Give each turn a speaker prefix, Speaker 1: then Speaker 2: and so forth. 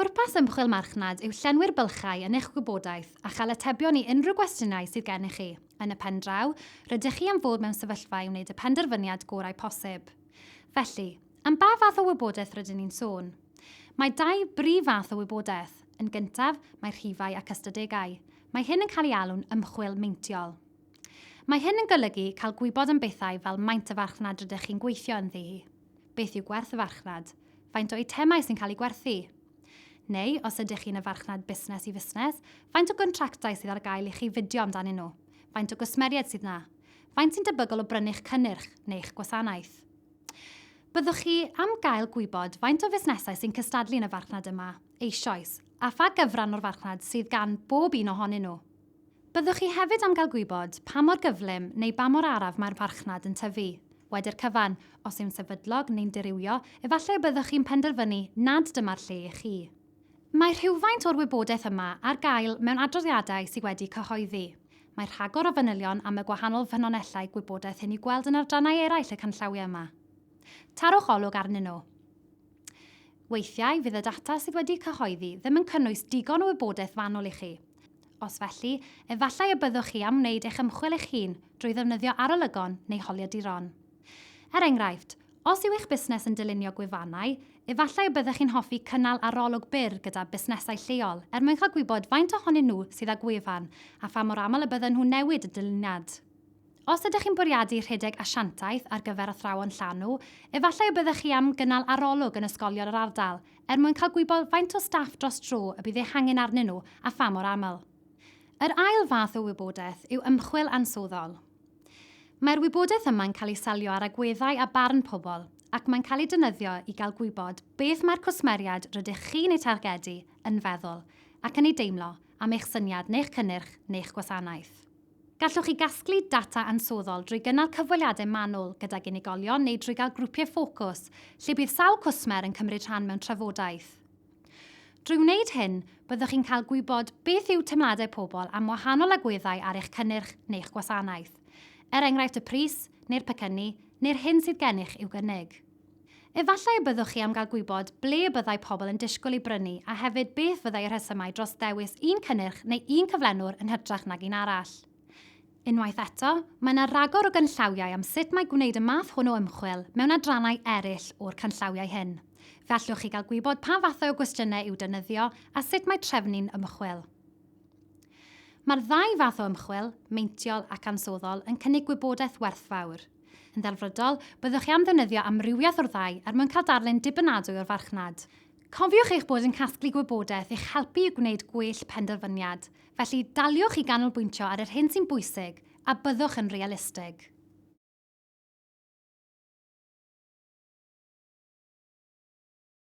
Speaker 1: Pwrpas ymchwil Marchnad yw llenwi'r bylchau yn eich gwybodaeth a chael atebion i unrhyw gwestiynau sydd gennych chi. Yn y pen draw, rydych chi am fod mewn sefyllfa i wneud y penderfyniad gorau posib. Felly, am ba fath o wybodaeth rydyn ni'n sôn? Mae dau brif fath o wybodaeth. Yn gyntaf, mae rhifau ac ystadegau. Mae hyn yn cael ei alw'n ymchwil meintiol. Mae hyn yn golygu cael gwybod am bethau fel maint y farchnad rydych chi'n gweithio ynddi hi. Beth yw gwerth y farchnad? Faint o eitemau sy'n cael eu gwerthu? Neu, os ydych chi'n y farchnad busnes i fusnes, faint o gontractau sydd ar gael i chi fidio amdanyn nhw? Faint o gwsmeriaid sydd na? Faint sy'n debygol o brynu'ch cynnyrch neu'ch gwasanaeth? Byddwch chi am gael gwybod faint o fusnesau sy'n cystadlu yn y farchnad yma eisoes, a pha gyfran o'r farchnad sydd gan bob un ohonyn nhw. Byddwch chi hefyd am gael gwybod pa mor gyflym neu ba mor araf mae'r farchnad yn tyfu. Wedi'r cyfan, os yw'n sefydlog neu'n dirywio, efallai y byddwch chi'n penderfynu nad dyma'r lle i chi. Mae rhywfaint o'r wybodaeth yma ar gael mewn adroddiadau sydd wedi cyhoeddi. Mae rhagor o fanylion am y gwahanol ffynonellau gwybodaeth hyn i'w gweld yn adrannau eraill y canllawiau yma. Tarwch olwg arnyn nhw. Weithiau fydd y data sydd wedi cyhoeddi ddim yn cynnwys digon o wybodaeth fanwl i chi. Os felly, efallai y byddwch chi am wneud eich ymchwil eich hun drwy ddefnyddio arolygon neu holiaduron. Er enghraifft, os yw eich busnes yn dylunio gwefannau, efallai y byddech chi'n hoffi cynnal arolwg byr gyda busnesau lleol er mwyn cael gwybod faint ohonyn nhw sydd â gwefan a pha mor aml y bydden nhw'n newid y dyluniad. Os ydych chi'n bwriadu rhedeg asiantaeth ar gyfer athrawon llanw, efallai y byddech chi am gynnal arolwg yn ysgolion yr ardal er mwyn cael gwybod faint o staff dros dro y bydd eich angen arnyn nhw a pha mor aml. Yr ail fath o wybodaeth yw ymchwil ansawddol. Mae'r wybodaeth yma'n cael ei selio ar agweddau a barn pobl ac mae'n cael ei defnyddio i gael gwybod beth mae'r cwsmeriaid rydych chi'n eu targedu yn feddwl ac yn ei deimlo am eich syniad neu'ch cynnyrch neu'ch gwasanaeth. Gallwch chi gasglu data ansoddol drwy gynnal cyfweliadau manwl gydag unigolion neu drwy gael grwpiau ffocws lle bydd sawl cwsmer yn cymryd rhan mewn trafodaeth. Drwy wneud hyn, byddwch chi'n cael gwybod beth yw teimladau pobl am wahanol agweddau ar eich cynnyrch neu'ch gwasanaeth, er enghraifft y pris, neu'r pecynnu, neu'r hyn sydd gennych i'w gynnig. Efallai y byddwch chi am gael gwybod ble y byddai pobl yn disgwyl ei brynu a hefyd beth fyddai y rhesymau dros ddewis un cynnyrch neu un cyflenwr yn hytrach nag un arall. Unwaith eto, mae yna ragor o ganllawiau am sut mae gwneud y math hwn o ymchwil mewn adrannau eraill o'r canllawiau hyn. Fe allwch chi gael gwybod pa fathau o gwestiynau i'w defnyddio a sut mae trefnu'n ymchwil. Mae'r ddau fath o ymchwil, meintiol ac ansoddol, yn cynnig gwybodaeth werthfawr. Yn ddelfrydol, byddwch chi am ddefnyddio amrywiaeth o'r ddau er mwyn cael darlun dibynadwy o'r farchnad. Cofiwch eich bod yn casglu gwybodaeth i'ch helpu i gwneud gwell penderfyniad, felly daliwch i ganolbwyntio ar yr hyn sy'n bwysig a byddwch yn realistig.